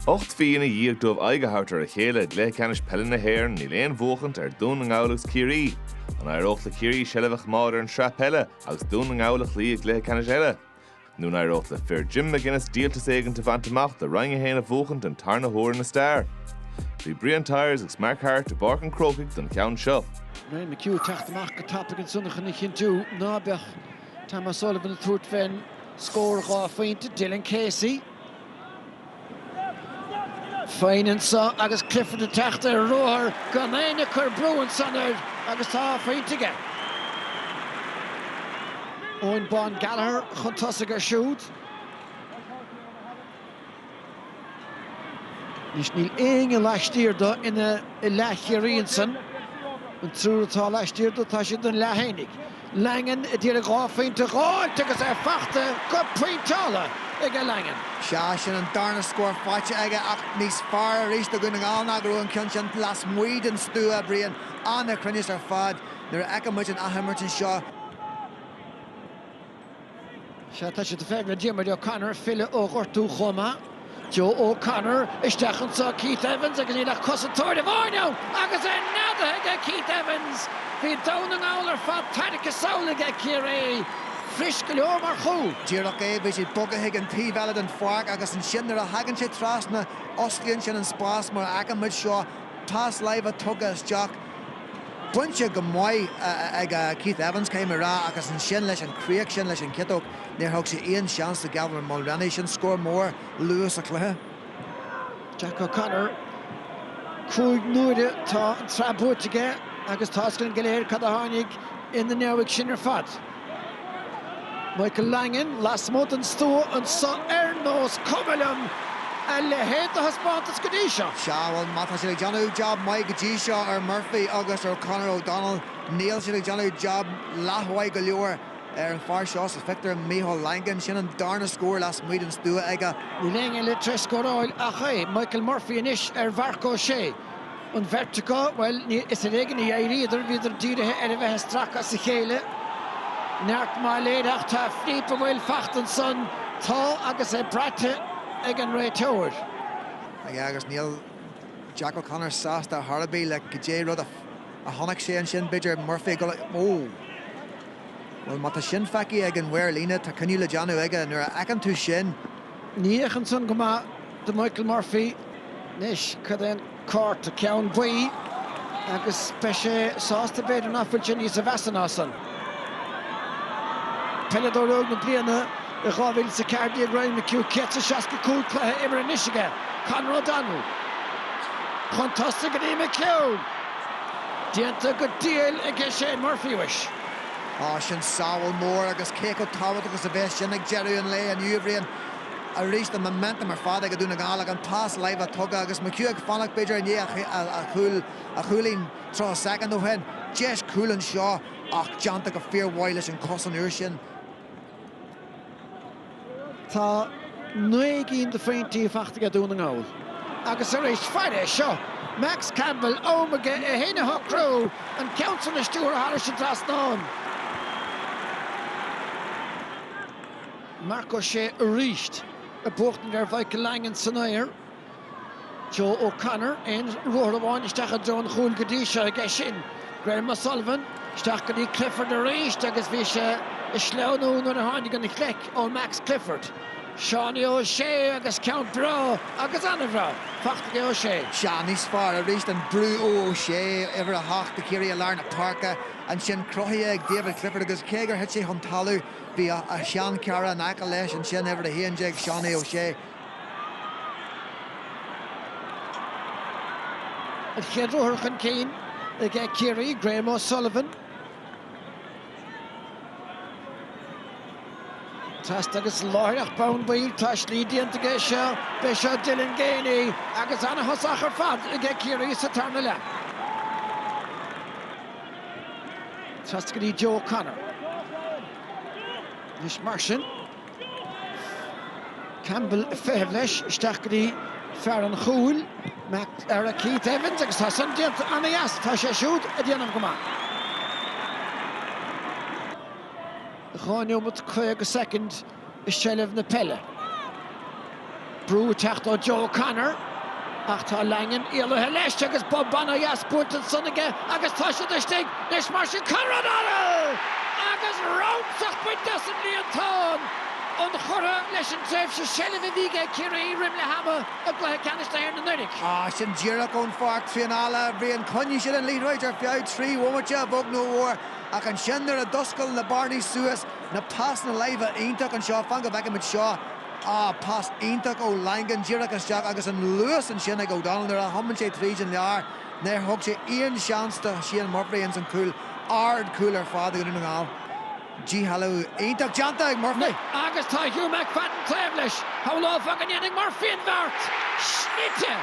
Ocht mhí ina dhiaidh dóibh aghaidh a thabhairt ar a chéile i gcluiche ceannais peile na hÉireann, níl aon bhuachaint ar Dhún na nGall agus Ciarraí. An éireodh le Ciarraí seilbh a choimeád ar an tsraith peile agus Dún na nGall a chloí i gcluiche ceannais eile? Nó an éireodh le fir Jim McGuinness díoltas éigin a bhaint amach le Roinn 1 a bhuachaint den tarna huair ina stair? Bhí Brian Tyers agus Mark Harte i bPáirc an Chrócaigh don cheann seo. Ryan McHugh ag teacht amach go tapaigh ansan chun a chinntiú ná beadh Tom O'Sullivan ag tabhairt faoin scór dhá phointe, Dylan Casey féin anseo agus Clifford ag teacht ar ruathar gan éinne ag cur brú ansan air agus tá phointe aige. Eoghan Bán Gallagher chun tosaigh air siúd. Anois níl éinne laistiar dó i leath Chiarraí ansan. An triúr atá laistiar dó, tá siad ina leath féinig. Langan a d'iarraidh dhá phointe a dh'fháilt agus é fachta go pointeáilte aige Langan. Sea, sin an darna scór faighte aige ach níos fearr arís do Dhún na nGall ná go raibh an ceann sin lasmuigh den stua, Brian. Ana-chruinneas ar fad nuair a fheiceann muid an athimirt anseo. Sea, tá siad i bhfeidhm ar Dhiarmuid O'Connor, filleadh ó ghortú chomh maith. Joe O'Connor, isteach anseo, Keith Evans agus níl ach cosantóir amháin ann agus é neadaithe aige Keith Evans! Bhí Dún na nGall ar fad tairricthe sall aige Ciarraí. Fuirist go leor mar chúl. Díreach é, bhí sé bogtha chuig an taobh eile den pháirc agus ansin nuair a thagann sé trasna, osclaíonn sin an spás mar a fheiceann muid seo, pas láimhe tugtha isteach, Bainte go maith ag Keith Evans, caithfidh mé rá, agus ansin leis an chríoch sin leis an chiotóg, níor thug sé aon seans do Gavin Mulreany, sin scór mór luath sa chluiche. Jack O'Connor, cúig n-uaire tá an tsraith buaite aige agus tá a fhios againn go léir cad a tháinig ina ndiaidh sin ar fad. Michael Langan lasmuigh den stua anseo ar nós cuma liom a leithéid de thaispeántas go dtí seo. Sea, bhuel má tá siad ag déanamh jab maith go dtí seo ar Murphy agus ar Conor O'Donnell, níl siad ag déanamh jab leathmhaith go leor ar an fhear seo sa phictiúr, Michael Langan. Sin an darna scór lasmuigh den stua aige. Níl éinne eile tar éis scóráil ach é, Michael Murphy anois ar Mharc Ó Sé. An bheirt acu, bhuel, is ar éigean a d'éiríodar, bhíodar dírithe ar a bheith ag stracadh as a chéile. Neart maith léir ach tá Philippe i mbaol fachta ansan, tá agus é braite ag an réiteoir. Aye, agus níl Jack O'Connor sásta ar chor ar bith le goidé rud a chonaic sé ansin, b'fhéidir Murphy ag dul, oh. Bhuel, má tá sin feicthe ag an mhaor líne, tá cinneadh le déanamh aige, nuair a fheiceann tú sin, Ní fhéachann san go maith do Mhichael Murphy anois, cad é an cárta ceann buí agus beidh sé sásta b'fhéidir ná fuil sé níosa mheasa ná san. Peileadóir óg na bliana i 2014 Ryan McHugh, 165 cluiche imeartha anois aige. Conor O'Donnell chun tosaigh go dtí McHugh. Déanta go diail aige Shane Murphy anois. Á sin sábháil mór agus cé chomh tábhachtach is a bheas sin ag deireadh an lae inniu a Bhriain arís an momentum ar fad ag Dún na nGall ag an pas láimhe tugtha agus McHugh ag fanacht b'fhéidir i ndiaidh a chúilín tríocha soicind ó shin. Deis cúil anseo ach déanta go fíor mhaith leis an cos an uair sin. Tá naoi gcinn de phointí faighte aige Dún na nGall. Agus arís fair é seo, Max Campbell, am aige é fhéin a shocrú, an ceann san a stiúradh thairis an trasnán. Mark O'Shea arís ag buachtaint ar Mhichael Langan san aer. Joe O'Connor, aon ruathar amháin isteach i dtreo an chúil go dtí seo aige sin. Graham O'Sullivan, isteach go dtí Clifford arís agus bhí sé ag sleamhnú nuair a tháinig an chlic ó Max Clifford. Seánie O'Shea agus ceann breá agus an-bhreá faighte ag O'Shea. Sea níos fearr arís an brú ó O'Shea, uimhir a hocht, do Chiarraí i lár na páirce, ansin cruthaithe ag David Clifford agus cé gur thit sé chun talaimh, bhí a sheanchara in aice leis ansin, uimhir a haon déag, Seánie O'Shea. An chéad ruathar chun cinn ag Ciarraí, Graham O'Sullivan. Pas agus láithreach bonn baill, tá slí déanta aige seo. B'é seo Dylan Geaney agus an-thosach ar fad ag Ciarraí sa tarna leath. Pas go dtí Joe O'Connor. Anois mar sin. Campbell ag feitheamh leis, isteach go dtí fear an chúil, Macdara Keith Evans agus tá san déanta ana dheas, tá sé siúd ag déanamh go maith. Dhá neomat caoga soicind i seilbh na peile. Brú ag teacht ó Joe O'Connor ach tá Langan éalaithe leis agus bob an-deas buailte ansan aige agus tá siad istigh. Anois mar sin, Conor O'Donnell! Agus rúscadh bainte as an líontán, inchurtha leis an tréimhse seilbhe a bhí aige Ciarraí roim leath ama i gcluiche ceannais na hÉireann anuraidh. Ach sin díreach ón pháirc traenála a Bhriain, choinnigh siad an liathróid ar feadh trí bhomaite a bheag nó a mhór ach ansin nuair a d'oscail na bearnaí suas, na pasanna láimhe iontach anseo, fan go bhfeicimid seo, Ah, pas iontach ó Langan, díreach isteach agus an luas ansin ag O'Donnell nuair a thiomáin sé tríd an lár. Níor thug sé aon seans do Shane Murphy ins an cúl, ardchúl ar fad do Dhún na nGall. Díshealbhú iontach déanta ag Murphy. Agus tá Hugh McFadden taobh leis. Shamhlófá go ndéanfaidh Murphy an bheart! Snoite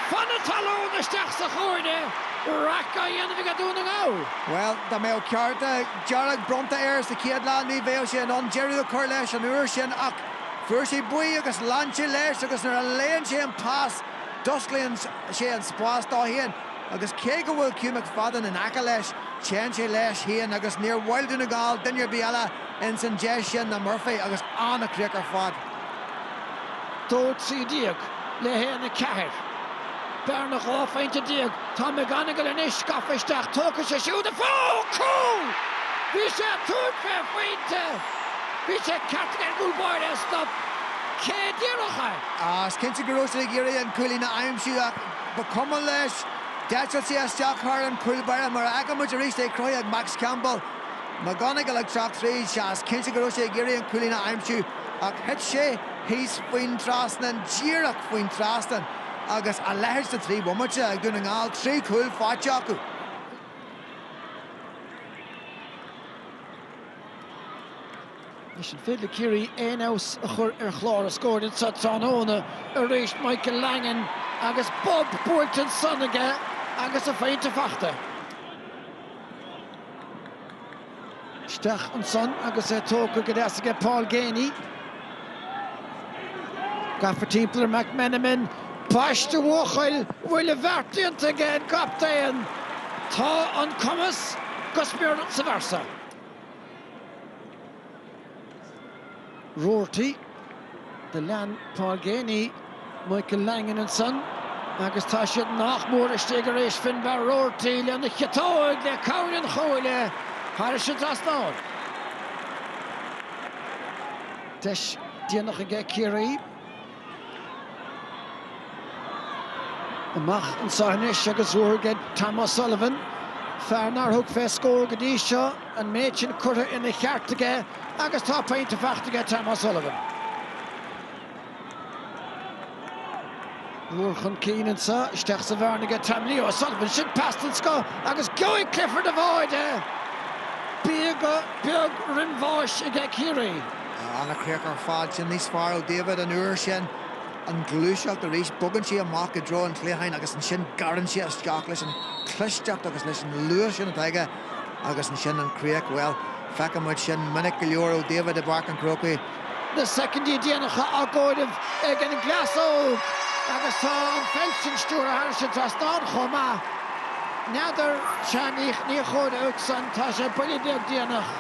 fan na talún isteach sa chúinne! Raic á dhéanamh aige Dún na nGall. Bhuel, dá mbeadh cárta dearg bronnta air sa chéad leath ní bheadh sé in ann deireadh a chur leis an uair sin ach, Fuair sé buí agus lean sé leis agus nuair a léann sé an pas d'osclaíonn sé an spás dó féin agus cé go bhfuil Hugh McFadden in aice leis téann sé leis féin agus níor mhaith le Dún na nGall duine ar bith eile ins an deis sin ná Murphy agus an-chríoch ar fad. 2 13 le 1 4. Bearna 12 phointe. Tá McGonigle anois gafa isteach, tógfaidh sé siúd a phointe! Cúl! Bhí sé ag tabhairt fé phointe! Bhí sé ceart ag an gcúl báire a stop cé a d'iarrfadh é. Is cinnte go raibh sé ag iarraidh an cúilín a aimsiú ach ba chuma leis. D'eitil sé isteach thar an chúl báire. Mar a fheiceann muid arís é cruthaithe ag Max Campbell. McGonigle ag teacht tríd. Sea, is cinnte go raibh sé ag iarraidh an cúilín a aimsiú ach thit sé thíos faoin trasnán, díreach faoin trasnán. agus a leithéid sna trí bhomaite ag Dún na nGall, trí chúl faighte acu. Anois an féidir le Ciarraí aon fheabhas a chur ar chlár a scóir anso tráthnóna arís, Michael Langan agus bob buailte ansan aige agus a phointe faighte. Isteach ansan agus é tógtha go deas aige Paul Geaney. Gafa timpeall ar McMenamin, ambaiste a bhuachaill! Bhfuil an bheart déanta aige an gcaptaen? Tá an cumas go smior sa bhfear so. Roarty, do lean Paul Geaney, Michael Langan ansan agus tá siad nach mór istigh arís Finbarr Roarty lena chiotóg le cabhair an chuaille thairis an dtrasnán. Deis déanach aige Ciarraí. Amach anso anois agus ruathar ag Tom O'Sullivan, fear nár thug fé scór go dtí seo, an méid sin curtha ina cheart aige agus tá pointe faighte aige Tom O'Sullivan. Ruathar chun cinn anso, isteach sa bhearna aige Tom Leo O'Sullivan, sin pas den scoth agus gheobhaidh Clifford a bháide! Bíogadh beag roimh bhás aige Ciarraí, An-chríoch ar fad sin níos fearr ó David an uair sin. An ghluaiseacht arís, bogann sé amach i dtreo an chliatháin agus ansin gearrann sé isteach leis an chlisteacht agus leis an luas sin atá aige agus ansin an chríoch, bhuel, feiceann muid sin minic go leor ó David i bPáirc an Chrócaigh. Na soicindí déanacha á gcomhaireamh ag an gcleas óg agus tá an pheil sin stiúrtha thar an trasnán chomh maith. N'fheadar, sea, ní dócha, ach fós tá sé buille beag déanach.